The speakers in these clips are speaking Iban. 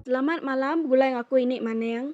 Selamat malam begulai ngaku ini maning.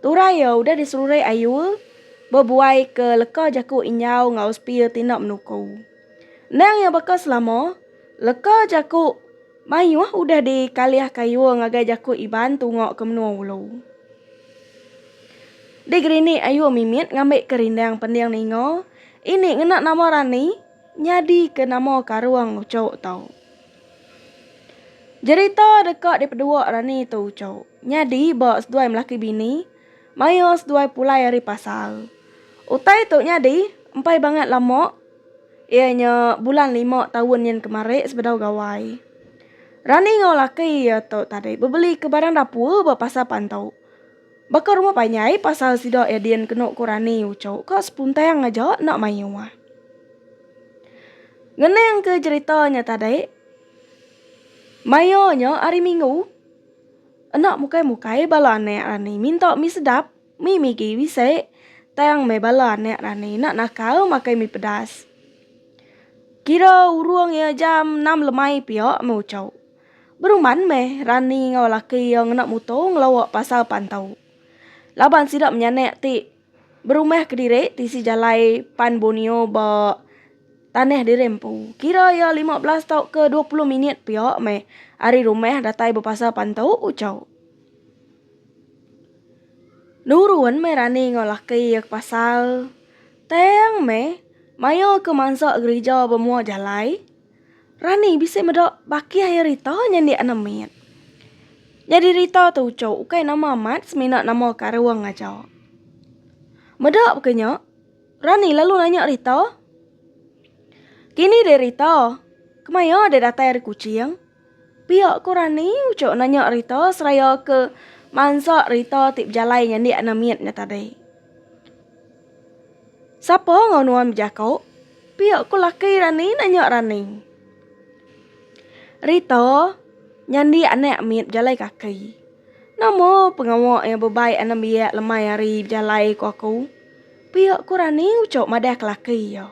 Turai iya udah diselurik ayu bebuai ke leka jaku Inyau enggau Spear ti enda menuku. Endang iya baka selama, leka jaku mayuh udah dikalih kayuh ngagai jaku Iban tunga ke menua ulu. Digerinik ayu mimit ngambika rindang pending ninga, ini ngena nama rani nyadika nama karung uchu tu. Jerita deka dipedua rani tu uchu nyadi ba seduai melaki bini mayuh seduai pulai ari pasar. Utai tu nyadi empai bangat lama iya nya bulan lima taun nyin kemari sebedau Gawai. Rani enggau laki iya tu tadi bebelika barang dapur ba pasar pan tu. Baka rumah panjai pasal sida Edin kenu ku rani uchu ka sepuntang aja enda mayuh. Ngenang ke jerita nya tadi, maya nya hari minggu enda mukai mukai bala anak rani minta mi sedap, mi migi bisi tang meh bala anak rani enda nakal makai mi pedas. Kira urung iya jam enam lemai pia meh uchu. Beruman meh Rani enggau laki iya ngena muto ngelawa pasar Pantau. Laban sida menyanak ti berumah kediri tisi jalai pan Borneo ba tanah diri empu. Kira iya lima belas tauka dua puluh minit pia meh ari rumah datai ba pasar Pantau, ujar. Nurun meh Rani enggau laki iya ke pasar. Tang meh, maya ke mansa gerija ba mua jalai. Rani bisi meda baki air Rita nya indi anak mit. Nyadi Rita tu ucu ukai nama amat semina nama karung aja. Meda baka nya, Rani lalu nanya Rita, Kini deh Rita, kemaya deh datai ari Kuching? Pia ku Rani, uchu nanya Rita seraya ke mansa Rita ti bejalai nyandik anak mit nya tadi. Sapa enggau nuan bejaku? Pia ku laki Rani nanya Rani. Rita nyandik anak mit bejalai kaki. Nama pengawa iya bebai anak biak lemai hari bejalai ku aku? Pia ku Rani uchu madah ke laki iya.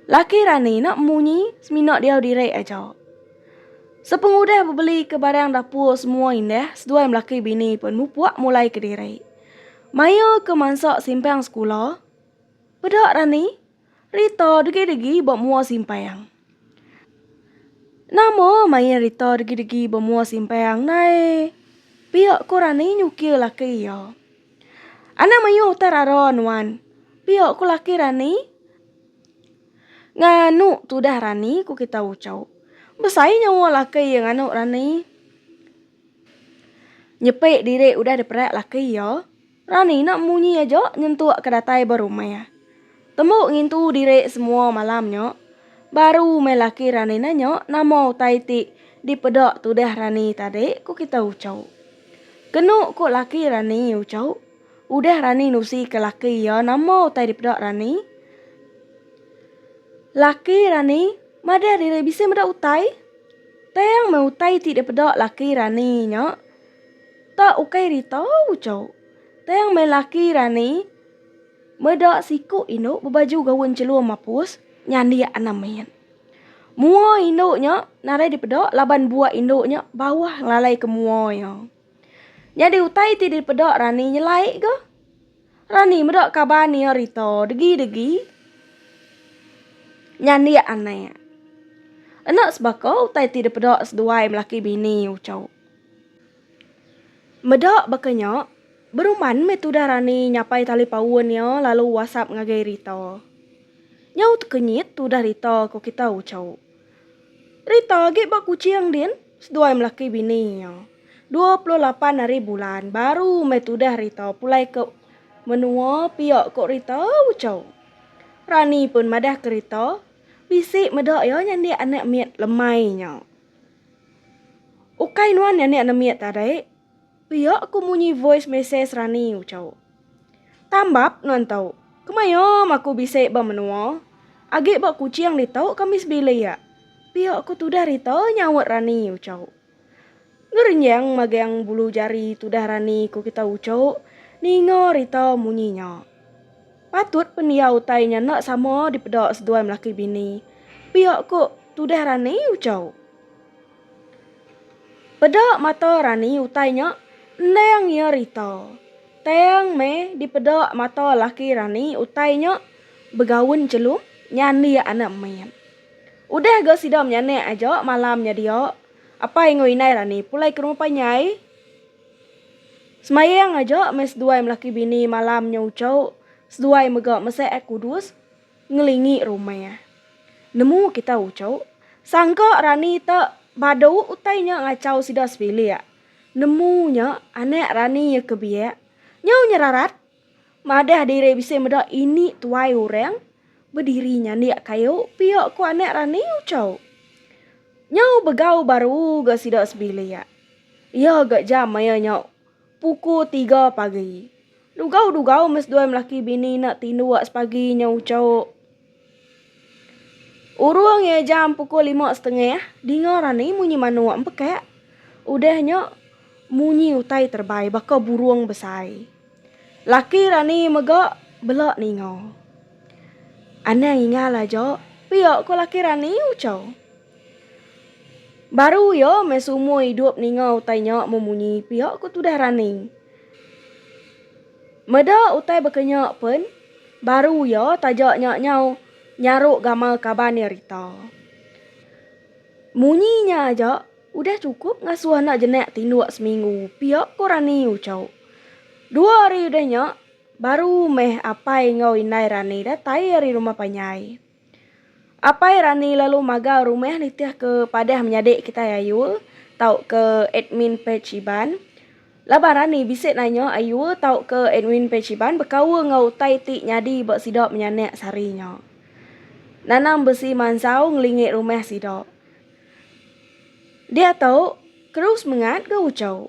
Laki rani enda munyi semina diau diri aja. Sepengudah bebelika barang dapur semua indah seduai melaki bini pen mupuk mulai kediri. Maya ke mansa simpang sekula, peda rani, rita degi-degi ba mua simpang. Nama main rita degi-degi bemua simpang nai pia ko rani nyukir laki iya. Anang mayuh utai rara nuan. Pia ko laki rani nganu tudah rani ko kitai ucau. Besai nyawa laki iya nganu rani. Nyepi diri udah diperai laki iya. Rani enda munyi aja nyentuk ke datai ba rumah. Tembu ngintu diri semua malam nya. Baru meh laki Rani nanya nama utai ti dipeda tudah Rani tadi ku kita Ucho. Kenu ku laki Rani Ucho, udah Rani nusi ke laki iya nama utai dipeda Rani. Laki Rani madah diri bisi meda utai. Tang meh utai ti dipeda laki Rani nya. Ta ukai rita uco. Tang meh laki rani meda siku indu bebaju gaun celua mapus nyandik anang main. Mua indu nya nadai dipeda laban buak indu nya bauh ngelalaika mua iya. Nyadi utai ti dipeda rani nyelai ga. Rani meda kaban iya rita degi-degi nyandik anak. Enda sebaka utai ti dipeda seduai melaki bini uco. Meda baka nya, beruman meh tudah Rani nyapai tali paun iya lalu wasap ngagai Rita. Nyau tekenyit tudah Rita ko kita ucau. Rita agi ba Kuching din seduai melaki bini iya. Dua puluh lapan hari bulan baru meh tudah Rita pulai ke menua pia ko Rita ucau. Rani pun madah ke Rita bisi meda iya nyandik anak mit lemai nya. Ukai nuan nyani anemit tadi, pia ku munyi voice message Rani ucau. Tambap nuan tu, kemaya mah aku bisi ba menua, agi ba Kuching ditu kami sebilik, pia ku tudah rita nyaut Rani ucau. Ngerenjang magang bulu jari tudah Rani ku kita uchu ninga rita munyi nya. Patut pendiau utai nya enda sama dipeda seduai melaki bini. Pia ku tudah Rani Uchau. Peda mata Rani utai nya endang iya rita. Tang meh dipeda mata laki Rani utai nya begaun chelum nyandik anak mit. Udah ga sida menyanak aja malam nya dia, apai enggau indai Rani pulai ke rumah panjai. Semayang aja meh seduai melaki bini malam nya uchu seduai mega meseh ai kudus ngelingi rumah. Nemu kita uchu sangka rani te badu utai nya ngachau sida sebilik. Nemu nya anak rani iya ke biak nyau nyerarat. Madah diri bisi meda ini tuai orang bediri nyandik kayu pia ku anak rani Uchau. Nyau begau baru ga sida sebilik. Iya ga jam maya nya puku tiga pagi. Dugau-dugau mes duai melaki bini enda tinduk sepagi nyau Uchau. Urung iya jam pukul lima setengah, dinga rani munyi manuk empekak. Udah nya, munyi utai terebai baka burung besai. Laki rani mega bela ninga. Anang ingal aja, pia ko laki rani uchau. Baru iya meh seumur idup ninga utai nya memunyi pia ko tudah rani. Meda utai baka nya pen, baru iya taja nya nyau nyaru gamal kaban iya Rita. Munyi nya aja udah chukup ngasuh anak jenak tinduk seminggu pia, ku Rani uchau. Dua hari udah nya, baru meh apai enggau indai Rani datai ari rumah panjai. Apai rani lalu magar rumah nitih ke padah menyadi kitai Ayul tauka admin page Iban. Laban rani bisi nanya Ayul tauka admin page Iban bekaul enggau utai ti nyadi ba sida menyanak sehari nya. Nanam besi mansau ngelingi rumah sida. Diatu, keru semengat ga uchu.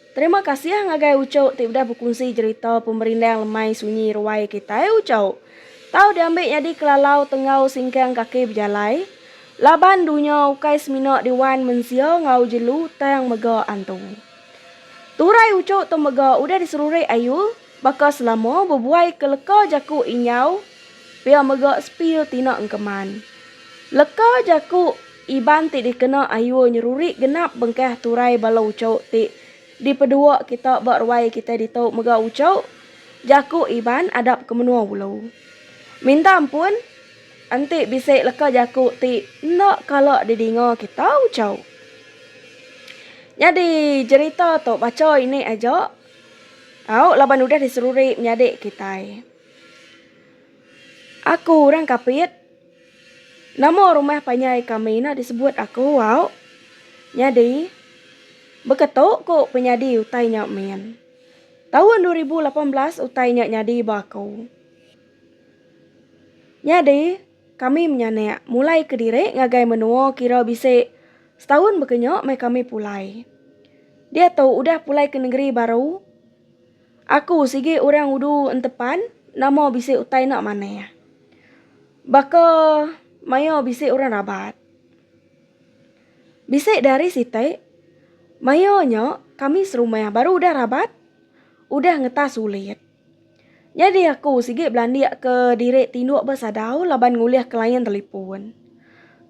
Terima kasih ngagai Ucok ti udah bekunsi jerita pemerindang lemai sunyi ruai kitai Ucok. Tau diambi nyadi kelalau tenggau singkang kaki bejalai. Laban dunya ukai semina diwan mensia enggau jelu tang mega antu. Turai Ucok tu mega udah diserurik ayu. Baka selama bebuai ke leka jaku Inyau pia mega sepil tina engkeman. Leka jaku Iban ti dikena Ayur nyeruri genap bengkah turai bala uchu ti dipedua kita ba ruai kitai ditu mega uchu jaku Iban adap ke menua ulu. Minta ampun enti bisi leka jaku ti enda kala didinga kita uchu. Nyadi jerita tu bacha ini aja. Tau laban udah diseruri menyadi kitai. Aku orang Kapit. Nama rumah panjai kami ne disebut aku au. Nyadi baka tu ku penyadi utai nya min. Taun dua ribu lapan belas utai nya nyadi ba aku. Nyadi. Kami menyanak mulai kediri ngagai menua kira bisi setahun bekenya meh kami pulai. Diatu udah pulai ke nengeri baru. Aku sigi orang udu entepan nama bisi utai enda manah. Baka maia bisi orang rabat. Bisi dihari siti maia nya kami serumah baru udah rabat udah ngetas ulit. Nyadi aku sigi belandik ke diri tinduk ba sadau laban ngulih ke layan telipun.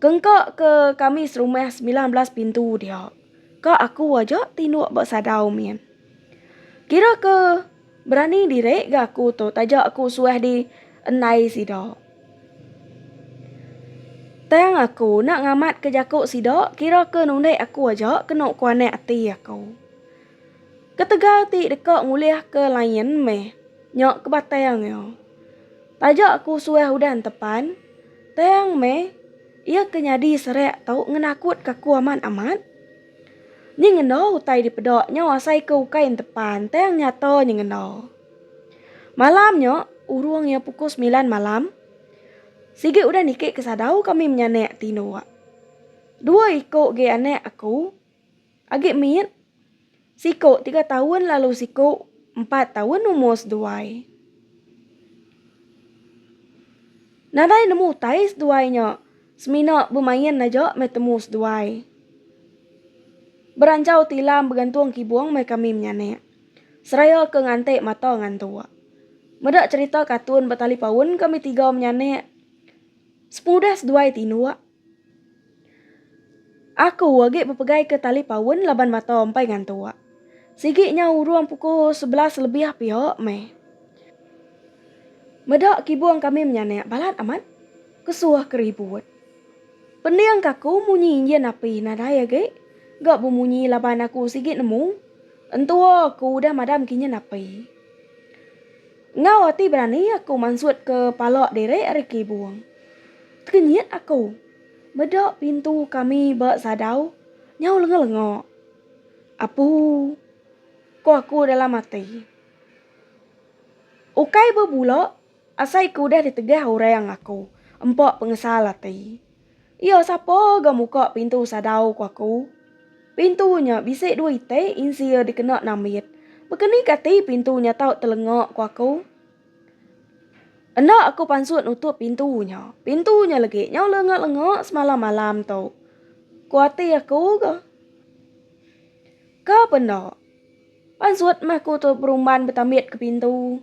Kengka ke kami serumah semilan belas pintu dia, ka aku aja tinduk ba sadau min. Kira ke berani diri ga aku tu taja aku suah di endai sida. Tang aku enda ngamat ke jaku sida kira ke nundi aku aja kenu kuanak ati aku. Ketegal ti deka ngulihka lain meh nya ke batang iya. Taja ku suah udan tepan, tang meh iya ke nyadi serak tu ngenakutka aku amat-amat. Nyengenda utai dipeda nya asaika ukai entepan tang nyata nyengenda. Malam nya, urung iya pukul semilan malam, sigi udah niki ke sadau kami menyanak tinduk. Dua iku agi anak aku. Agi mit, siku tiga taun lalu siku empat taun umur seduai. Nadai nemu utai seduai nya, semina bemain aja meh temu seduai. Beranjau tilam begantung kibung meh kami menyanek, seraya ke ngantik mata ngantuk. Meda cherita katun ba talipaun kami tiga menyanek, sepengudah seduai tinduk. Aku agi bepegaika tali paun laban mata empai ngantuk. Sigi nya urung pukul sebelas lebih pia meh. Meda kibung kami menyanak balat amat kesuh ke ribut. Pending ke aku munyi enjin api nadai agi ga bemunyi laban aku sigi nemu entua aku udah madam ke enjin api. Enggau ati berani aku mansutka pala diri ari kibung. Tekenyit aku meda pintu kami ba sadau nyau lenga-lenga. Apu! ko aku dalam ati. Ukai bebula asai ke udah ditegah orang aku empa pengesal ati. Iya sapa ga muka pintu sadau ku aku? Pintu nya bisi dua iti insi iya dikena nambit. Bekeni kati pintu nya tau telenga ku aku? Enda aku pansut nutup pintu nya. Pintu nya legi nyau lenga-lenga semalam malam tu. Ku ati aku ga. Ka pen enda. Pansut meh aku tu berumban betambitka pintu.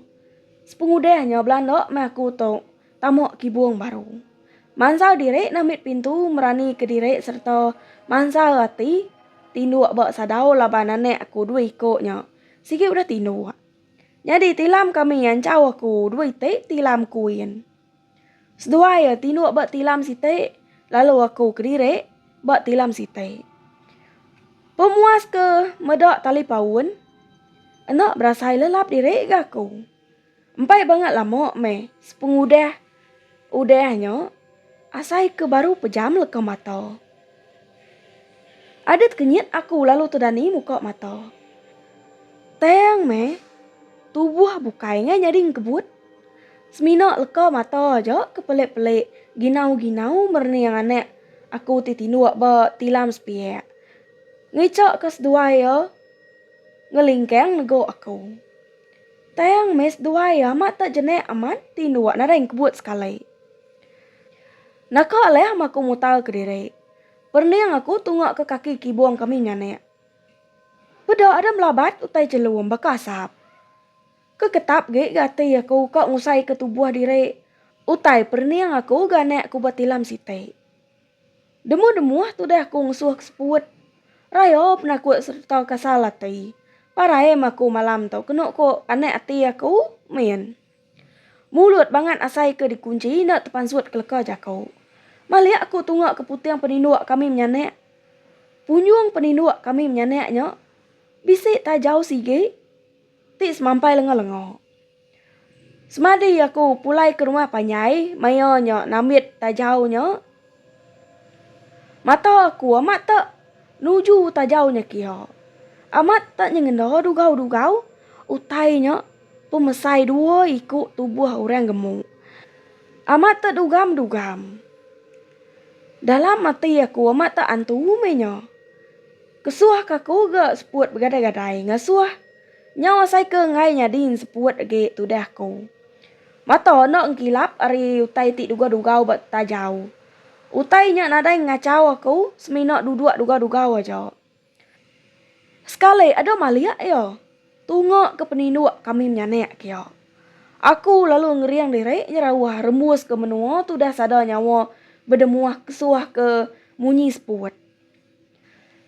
Sepengudah nya belanda meh aku tu Tama kibung baru. Mansal diri nambit pintu merani ke diri sereta mansal ati tinduk ba sadau laban anak aku dua iko nya sigi udah tinduk. Nyadi tilam kami nyanchau aku dua iti tilam kuin. Seduai iya tinduk ba tilam siti lalu aku kediri ba tilam siti. Pemuas ke meda talipaun enda berasai lelap diri ga aku. Empai banga lama meh sepengudah udah nya asai ke baru pejam leka mata. Adat kenyit aku lalu tedani muka mata. Tang meh tubuh bukai ngai nyadi engkebut. Semina leka mata aja ke pelik-pelik ginau-ginau merening anak aku ti tinduk ba tilam sepiak. Ngichaka seduai iya ngelingkang negu aku. Tayang meh seduai iya ma tak jenek amat ti endua nadai engkebut sekali. Naka alih ma aku mutar ke diri. Perending aku tunga ke kaki kibong kami nyanek. Peda ada melabat utai chelum baka asap. Ke ketap gik ga ati aku ka ngusai ke tubuh diri. Utai perending aku ga anek aku ba tilam siti. Demuh-demuh tudah aku ngesuh ke seput. Raya penakut sereta kasal ati. Parai meh aku malam tu kenu ku panak ati aku min. Mulut bangat asai ke dikunchi enda tepansut ke leka jaku. Malik aku tunga ke puting peninduk kami menyanak. Punjung peninduk kami menyanak nya bisi tajau sigi ti semampai lenga-lenga. Semadi aku pulai ke rumah panjai maya nya nambit tajau nya, mata aku amat tak nuju tajau nya kiha. Amat tak nyengenda dugau-dugau utai nya pemesai dua iku tubuh orang gemu. Amat tak dugam-dugam. Dalam ati aku amat tak antu meh nya. Kesuh ka aku ga seput begadai-gadai ngasuh Nyau asai ke enggai nyadin seput agi tudah aku. Mata enda engkilap ari utai ti dugau-dugau ba tajau. Utai nya nadai ngachau aku semina duduk dugau-dugau aja. Sekali ada malik iya tunga ke peninduk kami menyanak kia. Aku lalu ngering diri nyerauh rembus ke menua tudah sada nyawa bedemuh kesuh ke munyi seput.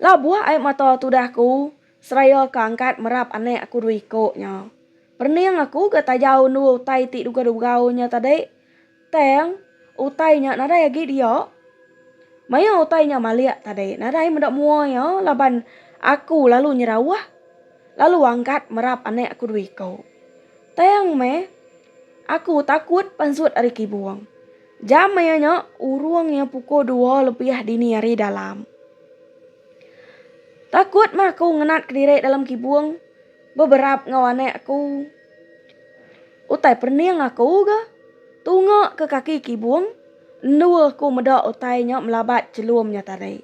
Labuh ai mata tudah aku seraya ke angkat merap anak aku dua iko nya. Perening aku ga taja undur utai ti degah dibegau nya tadi. Tang, utai nya nadai agi dia. Maya utai nya malik tadi, nadai meda mua iya laban aku lalu nyerauh lalu angkat merap anak aku dua iko. Tang meh. Aku takut pansut ari kibung. Jam maya nya, urung iya pukul dua lebih dini hari dalam. Takut mah aku ngenat kediri dalam kibung, beberap enggau anak aku. Utai perening aku ga tunga ke kaki kibung, endu aku meda utai nya melabat chelum nya tadi.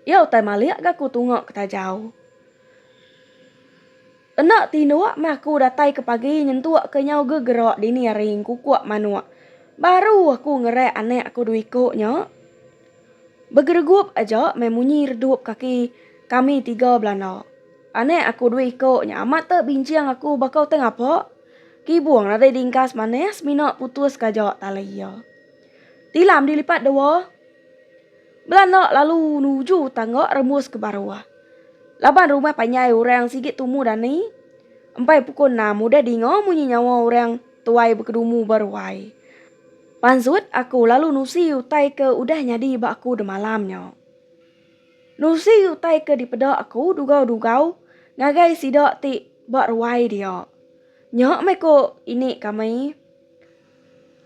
Iya utai malik ga aku tunga ke tajau. Enda tinduk meh aku datai ke pagi nyentuk ke nyau gegerak dini hari ngkukuk manuk. Baru aku ngerat anak aku dua iku nya. Begeregup aja meh munyi redup kaki kami tiga belanda. Anak aku dua iku nya amat te binching aku baka te ngapa. Kibung nadai dingkas manah semina putuska aja tali iya. Tilam dilipat dua. Belanak lalu nuju tangga rembus ke baru. Laban rumah panjai orang sigi tumu dani. Empai pukul enam udah dinga munyi nyawa orang tuai bekedumu ba ruai. Pansut aku lalu nusi utai ke udah nyadi ba aku demalam nya. Nusi utai ke dipeda aku dugau-dugau ngagai sida ti ba ruai dia. Nya meh ko ini kami.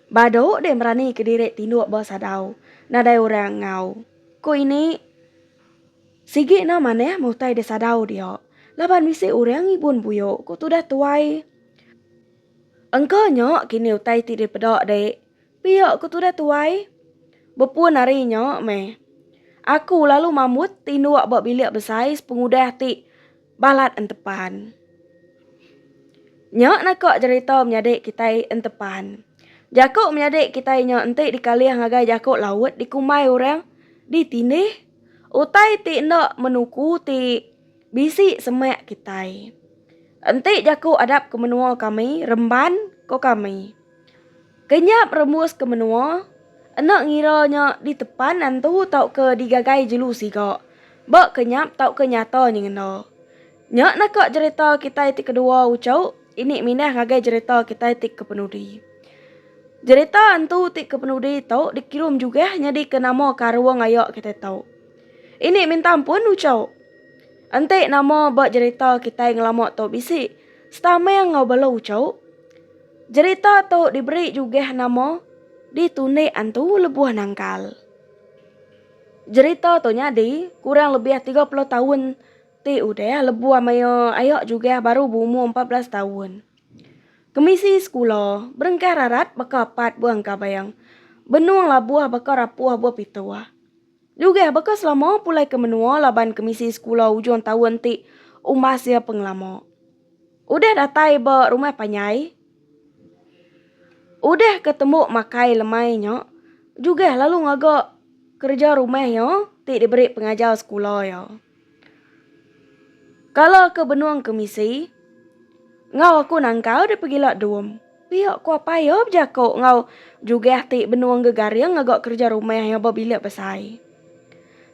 Badu deh merani ke diri tinduk ba sadau nadai orang enggau. Ku ini, sigi enda manah meh utai di sadau dia laban bisi orang ngibun buyu, ku tudah tuai. Engka nya kini utai ti dipeda dek, pia ku tudah tuai. Bepun ari nya meh, aku lalu mambut tinduk ba bilik besai sepengudah ti. Balat Entepan. Nya naka jerita menyadi kitai Entepan. Jaku menyadi kitai nya enti dikalih ngagai jaku Laut dikumbai orang ditindih utai ti enda menuku ti bisi semak kitai. Enti jaku adap ke menua kami Remban ko kami. Kenyap rembus ke menua, enda ngira nya ditepan nentu tauka digagai jelu siga, ba kenyap tauka nyata nyengenda. Nya naka jerita kitai ti kedua uchu ini mindah ngagai jerita kitai ti kepenudi. Jerita antu ti kepenudi tu dikirum jugah nyadika nama karung aya kitai tu. Ini mintang pun uchu. Enti nama ba jerita kitai ngelama tu bisi setameng enggau bala uchu. Jerita tu diberi jugah nama Di Tundik Antu Lebuh Nangkal. Jerita tu nyadi kurang lebih tiga puluh taun ti udah lebuh maya ayak jugah baru beumur empat belas taun. Kemisi sekula berengkah rarat baka apat buah engkabang, benung labuh baka rapuh buah pituh. Jugah baka selama pulai ke menua laban kemisi sekula ujung taun ti umbas iya pengelama. Udah datai ba rumah panjai, udah ke tembu makai lemai nya, Jugah lalu ngaga kereja rumah iya ti diberi pengajar sekula iya. Kala ke benung ke misi, enggau aku nangkal deh pegila dum. Pia ku apai iya bejaku enggau jugah ti benung gegaring ngaga kereja rumah iya ba bilik besai.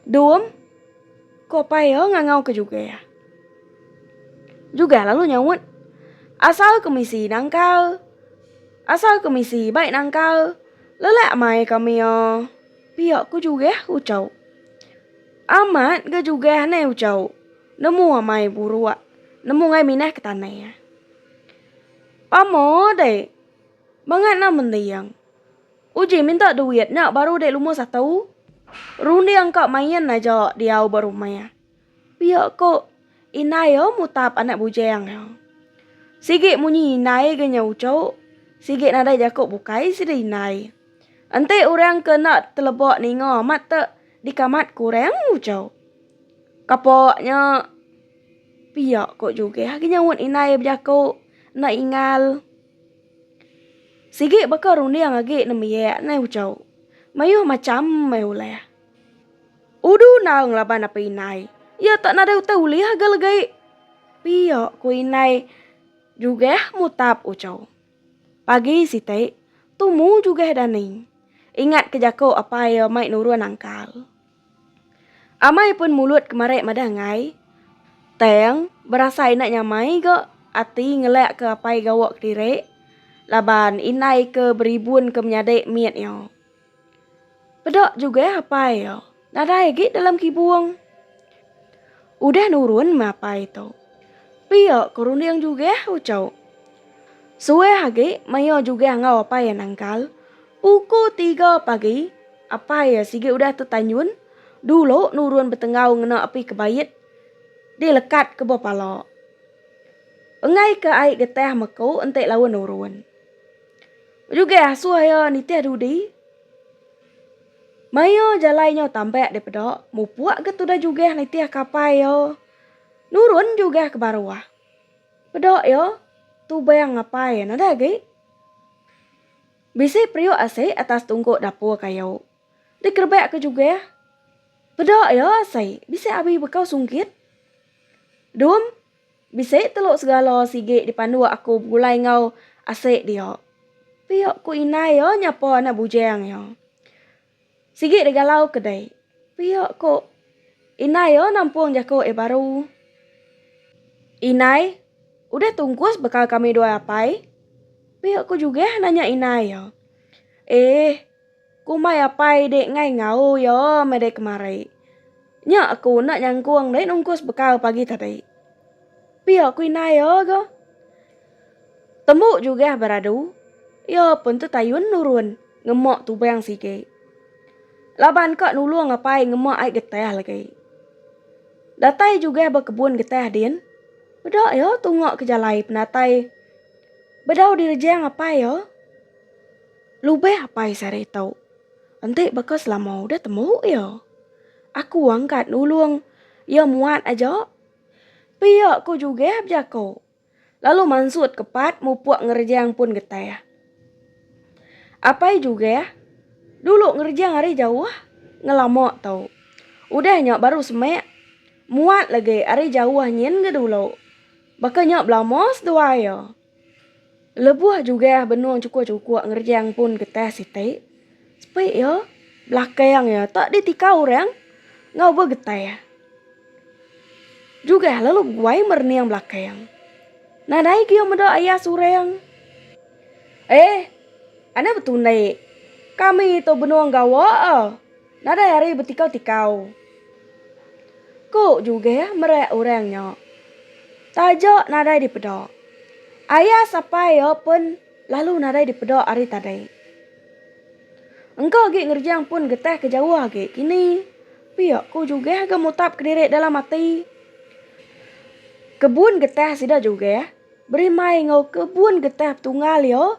Dum, ku apai iya ngangau ke jugah. Jugah lalu nyaut, Asal ke misi nangkal. Asal ke misi bai nangkal. Lelak amai kami iya. Pia ku jugah ucau. Amat ga jugah nai ucau. Nemu amai buruk. Nemu ngai minah ke tanah. Pamo deh. Bangat nah mending. Uji minta duit nya baru deh lumur satu. Runding ka main aja diau ba rumah. Pia ko indai iya mutap anak bujing iya. Sigi munyi indai ga nya uchu, sigi nadai jaku bukai sida indai. Enti orang ke enda teleba ninga amat tu dikamat ku orang uchu. Kapo nya. Pia ko Jugeh agi nyaut indai bejaku enda ingal. Sigi baka runding agi nembiak neh uchu. Mayuh macham meh ulih. Udu naung laban apai indai. Iya tak nadai utai ulih agi legi. Pia ko indai Jugeh mutap uchu. Pagi siti, tumu Jugeh dani. Ingat ke jaku apai iya mai nurun angkal. Amai pun mulut kemari madah enggai, tang berasai enda nyamai ga ati ngelak ke apai gawa kediri laban indai ke beribun ke menyadi mit iya. Peda jugah apai iya nadai agi dalam kibung. Udah nurun mapai tu. Pia ke runding jugah ucu. Suah agi maya jugah enggau apai iya nangkal. Puku tiga pagi apai iya sigi udah tu tanyun dulu nurun betenggau ngena api kebait di lekat ke ba pala. Enggai ke ai getah meku enti laun nurun. Jugah asuh iya nitih dudi. Maia jalai nyau tambak deh peda, mupuk ke tudah jugah nitih kapai ia, nurun jugah ke baruh. Peda ia tubang ngapai enda agi. Bisi periuk asi atas tungguk dapur kayu. Dikerebak ke jugah. Peda ia asi bisi abi bekau sunggit. Dum. Bisi telu segala sigi dipanduk aku begulai enggau asik dia. Pia ku indai iya nyapa anak bujang iya. Sigi deh galau ke deh. Pia ku indai iya nampung jaku iya baru. Indai, udah tungkus bekal kami dua apai? Pia ku Jugeh nanya indai iya. Eh. Ku mai apai dek ngai ngau yo meh dek kemari. Nya aku enda nyangkung dek nungkus bekal pagi tadi. Pia ku indai yo ga. Tembu jugah beradu, yo pun tetayun nurun ngema tubang sigi. Laban ka nulung apai ngema ai getah lagi. Datai jugah ba kebun getah din, peda yo tunga ke jalai penatai bedau direjang apai yo. Lubeh apai sehari tu. Enti baka selama udah temu iya. Aku angkat nulung iya muat aja. Pia ku Jugeh bejako. Lalu mansut ke pat mupuk ngerejang pun getah. Apai Jugeh dulu ngerejang ari jauh ngelama tu. Udah nya baru semek muat lagi ari jauh nyin ga dulu. Baka nya belama seduai iya. Lebuh jugang benung chukup-chukup ngerejang pun getah siti, sepi iya belakang iya tak ditika orang enggau begetah. Jugang lalu beguai merening belakang. Nadai ke iya meda ayas orang. Eh, anda betundi. Kami tu benung gawa. Nadai ari betikau-tikau. Ku Jugeh mereak orang nya. Taja nadai dipeda. Ayas apai iya pun lalu nadai dipeda ari tadi. Engka agi ngerejang pun getah ke jauh agi kini, pia ku Jugeh ga mutapka diri dalam ati. Kebun getah sida Jugeh berimbai enggau kebun getah Tungal iya.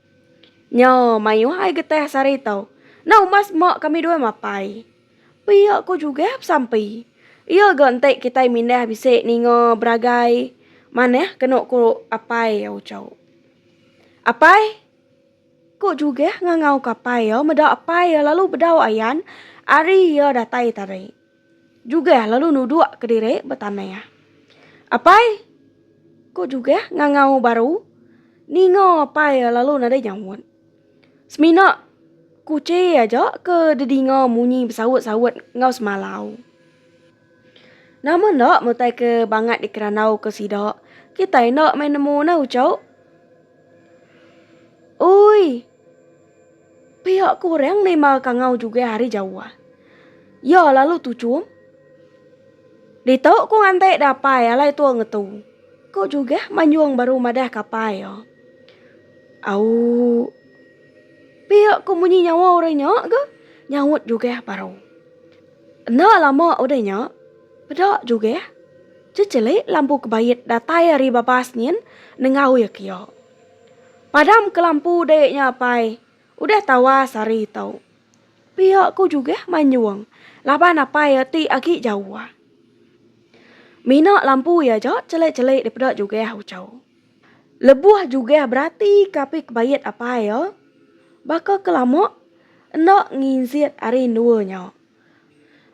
Nya mayuh ai getah sehari tu. Enda umbas meh kami dua mapai. Pia ko juga besampi. Iya ga enti kitai mindah bisi ninga beragai manah kenu ko apai iya uchu. Apai ko juga ngangau ko apai iya meda apai iya lalu bedau ayan ari iya datai tadi. Jugah lalu nuduk kediri betanah. Apai! ku Jugah ngangau baru. Ninga Apai lalu nadai nyaut. Semina kuchi aja ke dedinga munyi besaut-saut enggau semalau. Nama enda mutai ke bangat dikerandau ke sida, kitai enda meh nemu nah ucau. Ui! Pia ke orang nerima kangau jugai hari Jawa. Iya lalu tuchum. Ditu ku nganti dapai alai tua ngetu. Ko jugah Manjung baru madah ke apai iya. Au. Pia ke munyi nyawa orang nya ga nyaut jugah baru. Enda lama udah nya, peda jugah. Checheli lampu kebait datai ari babas nyin nengau iya kiya. Padam ke lampu dek nya apai. Udah tawas ari tu. Pia ku jugah manyung laban apai iya ti agi jauh. Mina lampu iya aja chelek-chelek daripada jugah uchu. Lebuh jugah berati ke api kebait apai iya, baka ke lama enda nginjit ari endua nya.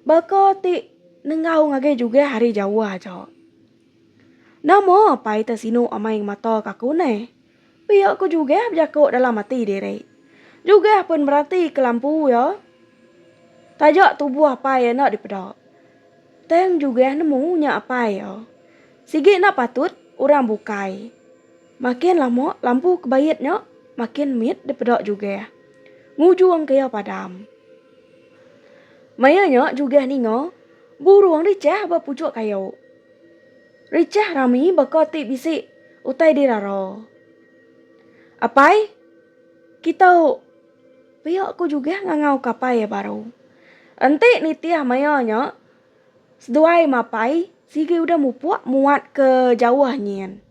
Baka ti nenggau ngagai juge hari jauh aja. Nama pai te sinu amai ngemata ka aku neh. Pia ku juge bejako dalam ati diri. Juge pun merati ke lampu ya. Taja tubuh apai enda dipeda. Tang juge nemu nya apai ya. Sigi enda patut orang bukai. Makin lama lampu ke bait nya makin mit dipeda juge. Ngujung ke ya padam. Maya nya Jugah ninga burung richah ba puchuk kayu. Richah rami baka ti bisi utai dirara. Apai, kitu pia ku Jugah ngangau ke apai iya baru. Enti nitih maya nya seduai mapai sigi udah mupuk muat ke jauh nyin.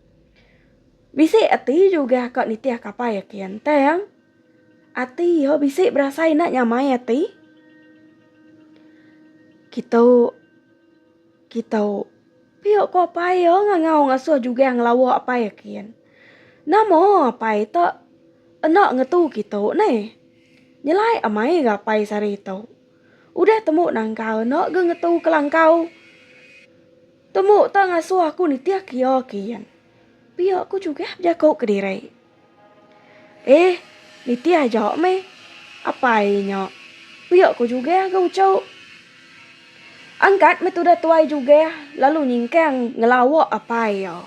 Bisi ati Jugah ka nitih ke apai iya kin tang. Ati iya bisi berasai enda nyamai ati. Kitu kitu pia ko apai iya ngangau ngasuh jugang ngelawa apai kin. Nama apai ta enda ngetu kitu neh. Nyelai amai ga apai sehari tu. Udah tembu nangkal enda ga ngetu kelangkau. Tembu ta ngasuh aku nitih ke iya kin. Pia ku chugah bejaku kediri. Eh, nitih aja meh. Apai nya. Pia ko jugeh ga uchu. Angkat meh tudah tuai jugeh lalu nyingkang ngelawa apai iya.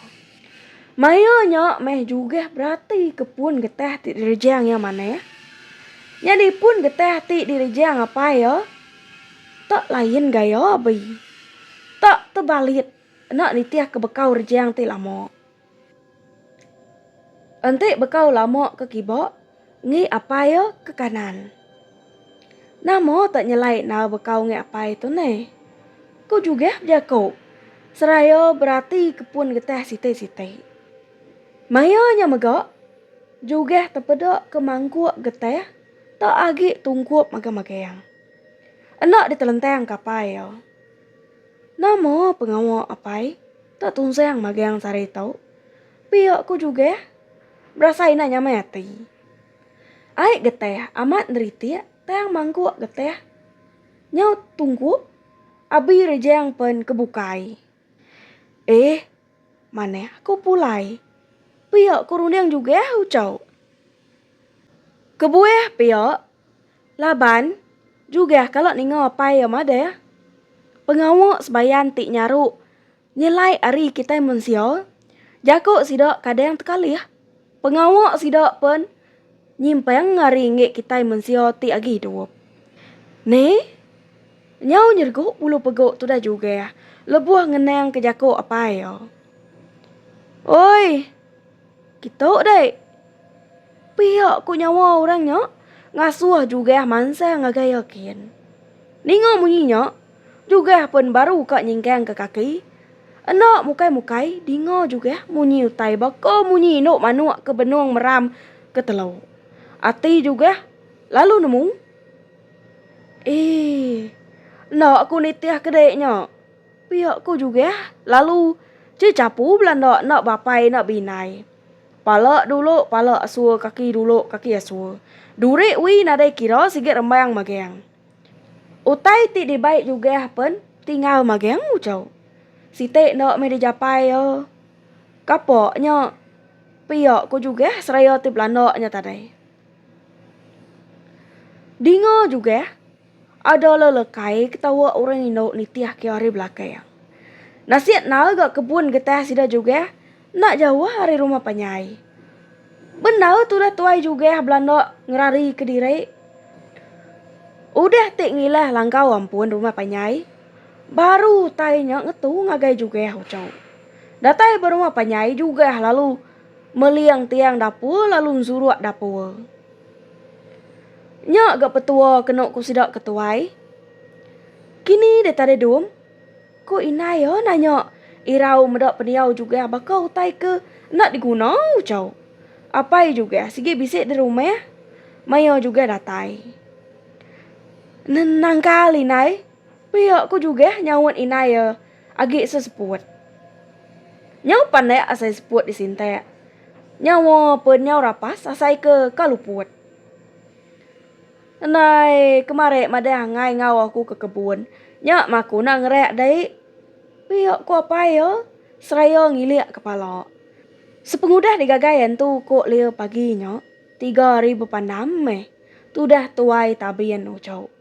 Maya nya meh jugeh berati ke pun getah ti direjang iya manah. Nyadi pun getah ti direjang apai iya tak lain gaya abei. Tak tebalit enda nitih ke bekau rejang ti lama. Enti bekau lama ke kiba, ngi apai iya ke kanan. Nama tak nyelai enal bekau ngi apai tu neh? Ku Jugeh bejaku seraya berati ke pun getah siti-siti. Maya nya mega, Jugeh tepeda ke mangkuk getah tak agi tungkup magang-magang. Enda ditelentang ke apai iya. Nama pengawa apai enda tunsang magang sehari tu? Pia ku Jugeh berasai enda nyamai ati. Ai getih amat neritik tang mangkuk getih nyau tungkup abi rejang pen ke bukai. Eh, manah aku pulai. Pia ku runding Jugeh ucau. Kebuah pia. Laban, Jugah kala ninga apai iya madah, Pengawa sebayan ti nyaru nyelai ari kitai mensia, jaku sida kadang tekalih. Pengawa sida pen nyimpang ari enggi kitai mensia ti agi idup. Ni, nyau nyergu bulu pegu tudah Jugah lebuh ngenangka jaku apai iya. Oi! Kitu deh. Pia ku nyawa orang nya ngasuh Jugah mansang ngagai Yakin. Ninga munyi nya, Jugah pun baru ka nyingkangka kaki. Enda mukai-mukai dinga Jugah munyi utai baka munyi indu manuk ke benung meram ke telu. Ati Jugah lalu nemu. Ee. Enda ku nitihka dek nya. Pia ko Jugeh lalu je chapu belanda enda bapai enda beinai. Pala dulu pala asur kaki dulu kaki asur. Duri ui nadai kira sigi rembang mageng. Utai ti dibai Jugeh pen tinggal mageng uchau. Siti enda meh dijapai iya. Kapa nya pia ko Jugeh seraya ti belanda nya tadai. Dinga Jugeh. Ada lelekai ketawa orang indu nitih ke ari belakang. Nasik nal ga kebun getah sida jugah enda jauh ari rumah panjai. Bendar tudah tuai jugah belanda ngerari ke diri. Udah ti ngilah langkau ampun rumah panjai, baru utai nya ngetu ngagai jugah uchu. Datai ba rumah panjai jugah lalu meling tiang dapur lalu nzuruk dapur. Nya ga petua kenu ku sida ke tuai. Kini deh tadai dum, ku indai iya nanya irau meda pendiau jugang baka utai ke enda diguna uchau. Apai jugang sigi bisi di rumah, maya jugang datai. Nangkal indai, pia ku jugang nyaut indai iya. Agi seseput. Nyau pandak asai seput disintak. Nyawa pun nyau rapas asai ke ka luput. Ndai kemari madah angai enggau aku ke kebun. Nya maku enda ngerak dai. Pia ku apai iya seraya ngilik kepala. Sepengudah digagai antu ku Lia pagi nya, tiga hari bepandam meh tudah tuai tabin uchu.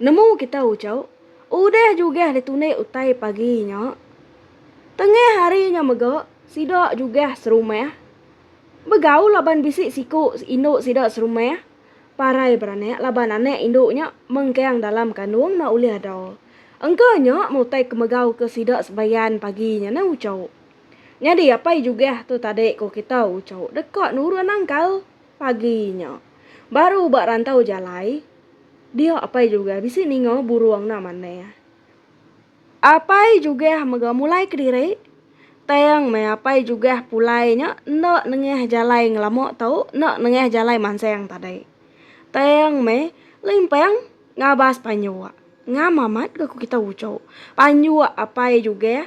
Nemu kita uchu udah jugah ditunik utai pagi nya. Tengah hari nya mega sida jugah serumah. Begaul laban bisi siku indu sida serumah, parai beranak laban anak indu nya mengkang dalam kandung enda ulih ada. Engka nya meh utai ke megauka sida sebayan pagi nya neh uchu. Nyadi apai jugah tu tadi ko kita uchu deka nurun nangkal. Pagi nya, baru ba rantau jalai, dia Apai Jugeh bisi ninga burung enda manah. Apai Jugeh mega mulai kediri, tang meh Apai Jugeh pulai nya enda nengah jalai ngelama tu, enda nengah jalai mansang tadi. Tang meh limpang ngabas panjua. Ngam amat ga ku kitai uchu panjua Apai Jugeh.